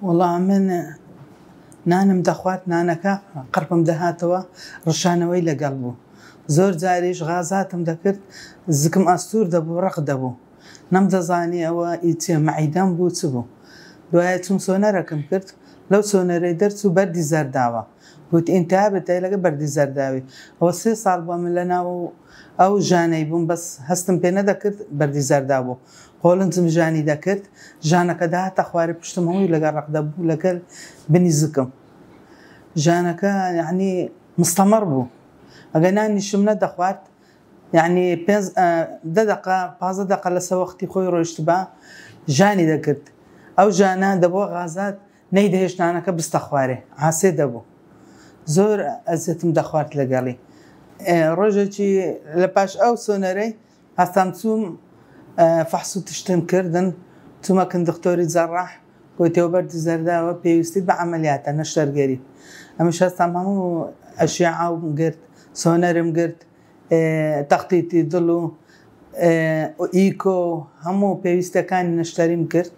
وەڵا من نانم دەخوارد نانەکە قڕپم دەهاتەوە ڕشانەوەی لەگەڵ بوو زۆر جاریش غازاتم دەکرد زکم ئەستور دەبوو ڕەق دەبوو نەمدەزانی ئەوە ئی چیە مەعیدەم بوو چ بوو دوایە چوم سۆنەرەکم کرد لەو سۆنەرەی دەرچوو بەردی زەرداوە گوت ئینتابت هەیە لەگەڵ بەردی زەرداوی ئەوە سێ ساڵ بوە من لەناو ئەو ژانەی بووم بەس هەستم پێ نەدەکرد بەردی زەردا بوو قۆلنجم ژانی دەکرد ژانەکە دەهاتە خوارێ پشتم هەمووی لەگەڵ ڕەق دەبوو لەگەل بنی زکم ژانەکە یەعنی مستەمەڕ بوو ئەگەر نانیشم نەدەخوارد یەعنی پێنج دە دەقە پازدە دەقە لەسە وەختی خۆی ڕۆیشتبا ژانی دەکرد ئەو ژانە دەبووە غازات نەیدەهێشت نانەکە بستە خوارێ عاسێ دەبوو زۆر ئەزیەتم دەخوارد لەگەڵی ڕۆژێکی لە پاش ئەو سۆنەرەی هەستام چووم فەحس و تشتم کردن چوومەکن دکتۆری جەڕاح گوی تێوبەردی زەرداوە پێویستی بە عملیاتە نەشەرگەری ئەمش هەستام هەموو ئەشیعاوم گرت سۆنەرم گرت تەختیتی دڵ و ئیکۆ و هەموو پێویستەکانی نەشتەریم کرد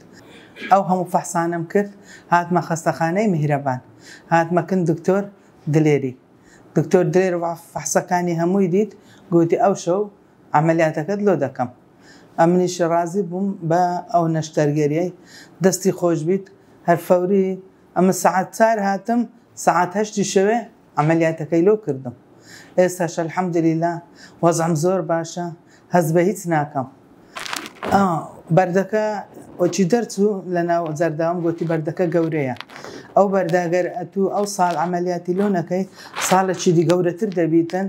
ئەو هەموو فەحسانەم کرد هاتمە خەستەخانەی میهرەبان هاتمە کن دکتۆر دلێری دکتۆر دلێر فەحسەکانی هەمووی دیت گۆتی ئەو شەو عەمەلیاتەکەت لۆ دەکەم ئەمنیش ڕازی بووم بە ئەو نەشتەرگەریەی دەستی خۆش بیت هەر فەوری ئەمن سەعات چار هاتم سەعات هەشتی شەوێ عەمەلیاتەکەی لۆ کردم ئێستاش الحمدللە وەزعم زۆر باشە هەست بە هیچ ناکەم بەردەکە وەکی دەرچوو لە ناو زەرداوم گۆتی بەردەکە گەورەیە ئەو بەرداگەر ئەتوو ئەو ساڵ عملیاتی لۆ نەکەی ساڵێکی دی گەورەتر دەبیتن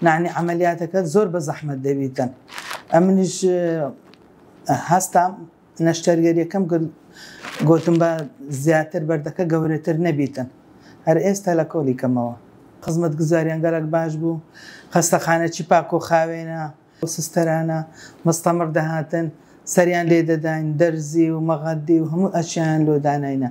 نعنی عملیاتەکە زۆر بە زەحمت دەبیتن ئەمنیش هەستام نەشتەرگەریەکەم کرد گۆتم با زیاتر بەردەکە گەورەتر نەبیتن هەر ئێستا لە کۆلی کەمەوە. خزمەت گوزاریان گەلەک باش بوو خەستەخانە چی پاکۆ خاوێنە و سستەرانە مستەمڕ دەهاتن سەریان لێ دەداین دەرزی و مەغەدی و هەموو ئەشیایان لۆ داناینە.